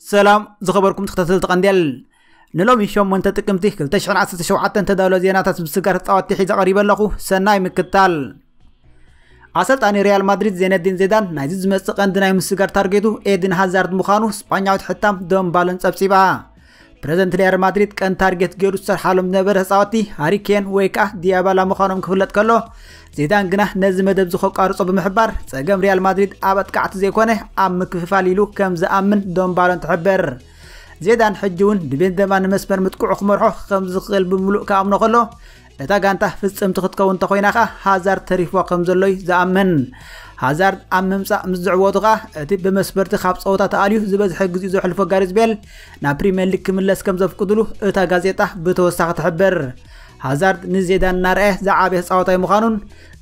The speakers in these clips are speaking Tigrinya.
ሰላም ዝኸበርኩም ተኸታተልቲ ቀንዴል ንሎሚ 8 ጥቅምቲ 2017 ተዳሎ ዜናታት ምስጋር ተፃወቲ ሒዘ ቀሪበ ኣለኹ ሰናይ ምክታል ኣሰልጣኒ ሪያል ማድሪድ ዜነዲን ዜዳን ናይዚ ዝመፅእ ቀንዲ ናይ ምስጋር ታርጌቱ ኤድን ሃዛርድ ምዃኑ ስጳኛዊት ሕታም ዶን ባለን ፀብፂባ ፕረዚደንት ሪያል ማድሪድ ቀን ታርጌት ገይሩ ዝሰርሓሎም ዝነበረ ተፃወቲ ሃሪኬን ወይ ከዓ ዲያባላ ምዃኖም ክፍለጥ ከሎ ዚዳን ግና ነዚ መደብ እዚ ከቋርጾ ብምሕባር ጸገም ሪያል ማድሪድ ኣብ ኣጥቃዕቲ ዘይኮነ ኣብ ምክፍፋል ኢሉ ከም ዝኣምን ዶምባሎን ትሕብር ዜዳን ሕጂ እውን ንቤንዘማ ንመስመር ምጥቅዑ ክመርሖ ከም ዝኽእል ብምሉእ ክኣምኖ ከሎ ነታ ጋንታ ፍጽምቲ ክትከውን እንተኾይና ከኣ ሃዛርድ ተሪፍዋ ከም ዘሎ እዩ ዝኣምን። ሃዛርድ ኣብ ምምጻእ ምስ ዝዕወቱ ከኣ እቲ ብመስበርቲ ካብ ጸወታ ተኣልዩ ዝበዝሐ ግዜኡ ዘሕልፎ ጋሪዝ ቤል ናብ ፕሪምየር ሊግ ክምለስ ከም ዘፍቅድሉ እታ ጋዜጣ ብተወሳኺ ትሕብር። ሃዛርድ ንዜዳን እናርኣየ ዝዓበየ ተጻዋታይ ምዃኑን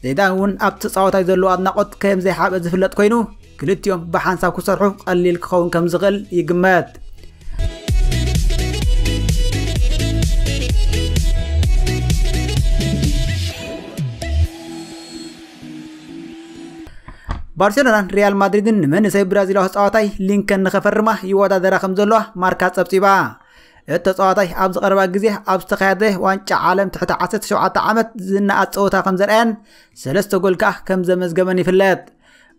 ዚዳን እውን ኣብ ተጻዋታይ ዘለዎ ኣድናቖት ከም ዘይሓበ ዝፍለጥ ኮይኑ ክልቲኦም ብሓንሳብ ክሰርሑ ቀሊል ክኸውን ከም ዝኽእል ይግመት። ባርሴሎናን ሪያል ማድሪድን ንመንእሰይ ብራዚላዊ ተጻዋታይ ሊንከን ንኸፈርማ ይወዳደራ ከም ዘለዋ ማርካ ጸብጺባ እቲ ተጻዋታይ ኣብዚ ቀረባ ግዜ ኣብ ዝተኻየደ ዋንጫ ዓለም ትሕቲ 17 ዓመት ዝነኣድ ጸወታ ከም ዘርኣየን ሰለስተ ጎል ከኣ ከም ዘመዝገበን ይፍለጥ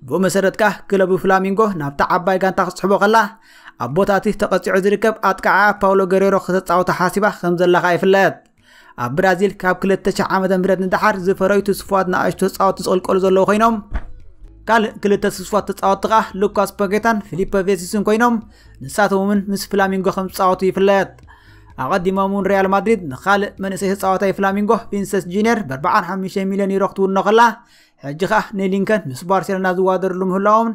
ብኡ መሰረት ከኣ ክለቡ ፍላሚንጎ ናብታ ዓባይ ጋንታ ክትስሕቦ ከላ ኣብ ቦታ እቲ ተቐፂዑ ዝርከብ ኣጥቃዓ ፓውሎ ገሬሮ ክተፃወታ ሓሲባ ከም ዘላ ከኣ ይፍለጥ ኣብ ብራዚል ካብ 2000 ዓ ም ንደሓር ዝፈረዩ ትስፋት ንኣሽቶ ተፃወቲ ዝቕልቀሉ ዘለዉ ኮይኖም ካልእ ክልተ ትስፋት ተፃወቲ ከዓ ሉካስ ፓጌታን ፊሊፐ ቬሲስን ኮይኖም ንሳቶም እውን ምስ ፍላሚንጎ ከም ዝፃወቱ ይፍለጥ ኣቐዲሞም እውን ሪያል ማድሪድ ንካልእ መንእሰይ ተፃዋታይ ፍላሚንጎ ቪንሰስ ጁኒየር ብ45 ሚልዮን ዩሮ ክትውኖ ከላ ሕጂ ከዓ ንሊንከን ምስ ባርሴሎና ዝዋደርሉ ምህላዎምን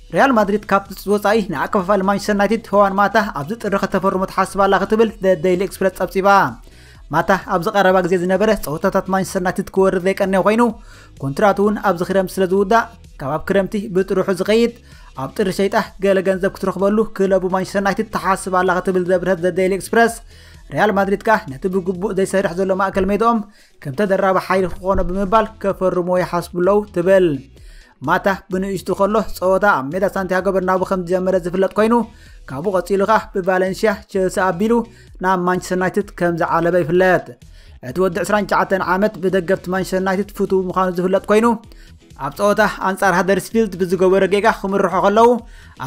ሪያል ማድሪድ ካብ ትፅቢት ወፃኢ ንኣከፋፋሊ ማንቸስተር ዩናይትድ ሆዋን ማታ ኣብዚ ጥሪ ከተፈርሞ ትሓስብ ኣላ ክትብል ዘ ደይሊ ኤክስፕረስ ጸብጺባ። ማታ ኣብዚ ቀረባ ግዜ ዝነበረ ፀወታታት ማንቸስተር ዩናይትድ ክወርድ ዘይቀነየ ኮይኑ ኮንትራቱ እውን ኣብዚ ክረምቲ ስለ ዝውዳእ ካብ ኣብ ክረምቲ ብጥርሑ ዝኸይድ ኣብ ጥሪ ሸይጣ ገለ ገንዘብ ክትረኽበሉ ክለቡ ማንቸስተር ዩናይትድ ትሓስብ ኣላ ክትብል ዘብርሀት ዘ ደይሊ ኤክስፕረስ ሪያል ማድሪድ ከኣ ነቲ ብግቡእ ዘይሰርሕ ዘሎ ማእከል ሜድኦም ከም ተደራቢ ሓይሊ ክኾኖ ብምባል ከፈርሞ ይሓስቡ ኣለዉ ትብል ማታ ብንእሽቱ ከሎ ፀወታ ኣብ ሜዳ ሳንቲያጎ በርናቡ ከም ዝጀመረ ዝፍለጥ ኮይኑ ካብኡ ቀፂሉ ከዓ ብቫለንሽያ ቸልሲ ኣቢሉ ናብ ማንቸስተር ዩናይትድ ከም ዝዓለበ ይፍለጥ እቲ ወዲ 29 ዓመት ብደገፍቲ ማንቸስተር ዩናይትድ ፍቱው ምዃኑ ዝፍለጥ ኮይኑ ኣብ ፀወታ ኣንጻር ሃደርስፊልድ ብዝገበረ ጌጋ ክምርሖ ከለዉ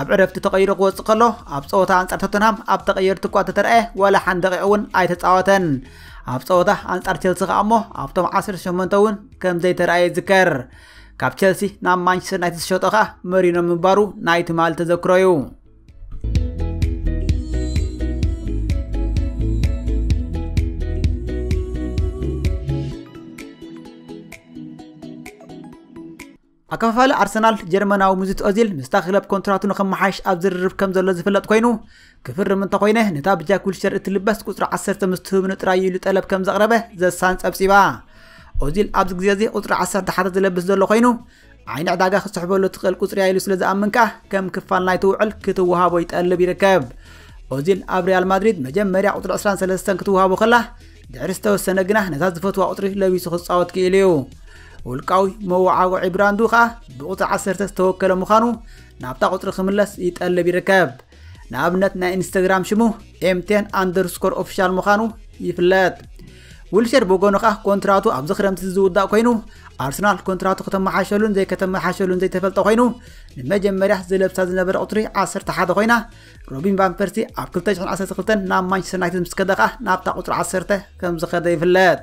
ኣብ ዕረፍቲ ተቐይሩ ክወፅእ ከሎ ኣብ ፀወታ ኣንጻር ቶተንሃም ኣብ ተቐየርቲ እኳ ተተረኣየ ዋላ ሓንደቂቕ እውን ኣይተፃወተን ኣብ ጸወታ ኣንጻር ቸልሲ ከኣ እሞ ኣብቶም 18 እውን ከም ዘይተረኣየ ይዝከር። ካብ ቸልሲ ናብ ማንቸስተር ዩናይትድ ዝሸጦ ከኣ መሪኖ ምንባሩ ናይ ትማሊ ተዘክሮ እዩ። ኣከፋፋሊ ኣርሰናል ጀርመናዊ ምዙት ኦዚል ምስታ ክለብ ኮንትራቱ ንከመሓይሽ ኣብ ዝርርብ ከም ዘሎ ዝፍለጥ ኮይኑ ክፍርም እንተኮይነ ነታ ብጃክ ዊልሸር እትልበስ ቁፅሪ 10 ምስ ትህብኑ ጥራይ ኢሉ ጠለብ ከም ዘቕረበ ዘሳን ጸብጺባ ኦዚል ኣብዚ ግዜ እዚ ቁፅሪ 10 ሓደ ዝለብስ ዘሎ ኮይኑ ዓይኒ ዕዳጋ ክስሕበሉ ትኽእል ቁፅሪ ኢሉ ስለ ዝኣምን ከኣ ከም ክፋል ናይቲ ውዕል ክትወሃቦ ይጠልብ ይርከብ ኦዚል ኣብ ሪያል ማድሪድ መጀመርያ ቁፅሪ 23 ክትወሃቦ ከላ ድሕሪ ዝተወሰነ ግና ነታ ዝፈትዋ ቁፅሪ ለቢሱ ክፃወት ክኢሉ እዩ ውልቃዊ መወዓውዒ ብራንዱ ከዓ ብቁፅሪ 10 ዝተወከለ ምዃኑ ናብታ ቁፅሪ ክምለስ ይጠልብ ይርከብ ንኣብነት ናይ ኢንስታግራም ሽሙ ኤምቴን ኣንደርስኮር ኦፊሻል ምዃኑ ይፍለጥ ዊልሼር ብወገኑ ከዓ ኮንትራቱ ኣብዚ ክረምቲ ዝውዳእ ኮይኑ ኣርሰናል ኮንትራቱ ከተመሓሸሉን ዘይከተመሓሸሉን ዘይተፈልጠ ኮይኑ ንመጀመርያ ዝለብሳ ዝነበረ ቁፅሪ 11 ኮይና ሮቢን ቫን ፐርሲ ኣብ 2012 ናብ ማንቸስተር ዩናይትድ ምስ ከደ ከኣ ናብታ ቁፅሪ 10 ከም ዝኸደ ይፍለጥ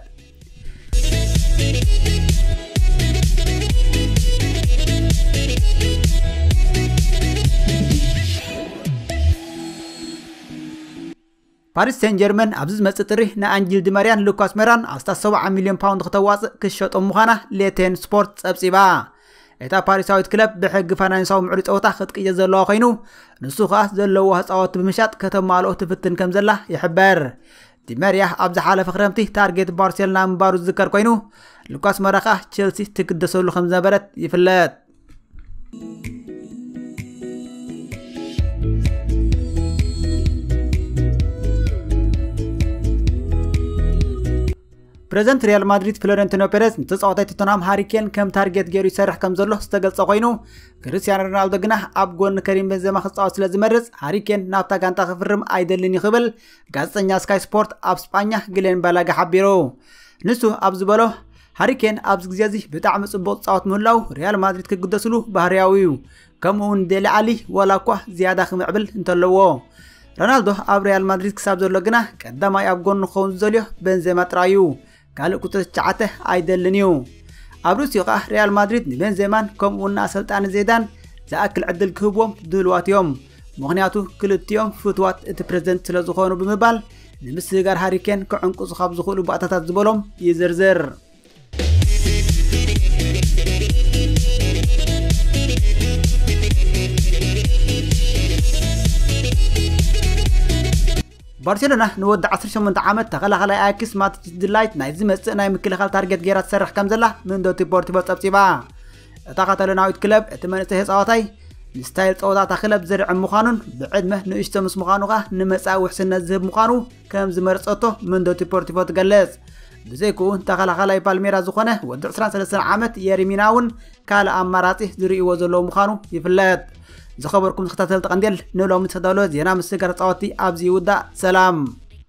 ፓሪስ ሴን ጀርመን ኣብዚ ዝመጽእ ጥሪ ንኣንጅል ዲመርያን ሉካስ ሜራን ኣስታት 70 ሚልዮን ፓውንድ ክተዋጽእ ክሸጦም ምዃና ሌቴን ስፖርት ጸብጺባ። እታ ፓሪሳዊት ክለብ ብሕጊ ፋይናንሳዊ ምዕሪ ጸወታ ክትቅይር ዘለዋ ኮይኑ ንሱ ከኣ ዘለዎ ህፃወት ብምሻጥ ከተማልኦ ትፍትን ከም ዘላ ይሕበር ዲመርያ ኣብ ዝሓለፈ ክረምቲ ታርጌት ባርሴሎና ምንባሩ ዝዝከር ኮይኑ ሉካስ መራ ከኣ ቸልሲ ትግደሰሉ ከም ዝነበረት ይፍለጥ ፕረዚደንት ሪያል ማድሪድ ፍሎረንቲኖ ፔሬዝ ንተፃዋታይ ቶተንሃም ሃሪኬን ከም ታርጌት ገይሩ ይሰርሕ ከም ዘሎ ዝተገልጸ ኮይኑ ክርስቲያኖ ሮናልዶ ግና ኣብ ጎኒ ከሪም ቤንዘማ ክፃወት ስለ ዝመርፅ ሃሪኬን ናብታ ጋንታ ክፍርም ኣይደልን እዩ ክብል ጋዜጠኛ ስካይ ስፖርት ኣብ ስጳኛ ግሌን ባላጋ ሓቢሩ ንሱ ኣብ ዝበሎ ሃሪ ኬን ኣብዚ ግዜ እዚ ብጣዕሚ ጽቡቕ ዝጻወት ምህላው ሪያል ማድሪድ ክግደስሉ ባህርያዊ እዩ ከምኡ እውን ዴሊ ዓሊ ዋላ እኳ ዝያዳ ክምዕብል እንተለዎ ሮናልዶ ኣብ ሪያል ማድሪድ ክሳብ ዘሎ ግና ቀዳማይ ኣብ ጎኑ ክኸውን ዝደልዮ ቤንዜማ ጥራይ እዩ ካልእ ቁጽሪ ትሽዓተ ኣይደልን እዩ ኣብ ርእሲኡ ከኣ ሪያል ማድሪድ ንቤንዜማን ከምኡውን ንኣሰልጣኒ ዜዳን ዝኣክል ዕድል ክህብዎም ድልዋት እዮም ምኽንያቱ ክልቲኦም ፍትዋት እቲ ፕሬዝደንት ስለዝኾኑ ብምባል ንምስግጋር ሃሪ ኬን ክዕንቅፁ ካብ ዝኽእሉ ባእታታት ዝበሎም ይዝርዝር። ባርሴሎና ንወዲ 18 ዓመት ተኸላኻላይ ኣያክስ ማቲስ ድላይት ናይ ዝመጽእ ናይ ምክልኻል ታርጌት ገይራ ትሰርሕ ከም ዘላ ምንዶ ዲፖርቲቮ ጸብጺባ እታ ካታሎናዊት ክለብ እቲ መንእሰይ ተጻዋታይ ንስታይል ጸወታ እታ ክለብ ዝርዕም ምዃኑን ብዕድመ ንእሽቶ ምስ ምዃኑ ከኣ ንመጻኢ ውሕስነት ዝህብ ምዃኑ ከም ዝመርጸቶ ምንዶ ዲፖርቲቮ ትገልጽ ብዘይክኡ ተኸላኻላይ ፓልሜራ ዝኾነ ወዲ 23 ዓመት የሪሚና እውን ካልእ ኣማራጺ ዝርእይዎ ዘለዎ ምዃኑ ይፍለጥ ዝኸበርኩም ተኸታተልቲ ቀንዴል ንሎሚ ዝተዳለወ ዜና ምስጋር ተጻወቲ ኣብዚ ይውዳእ ሰላም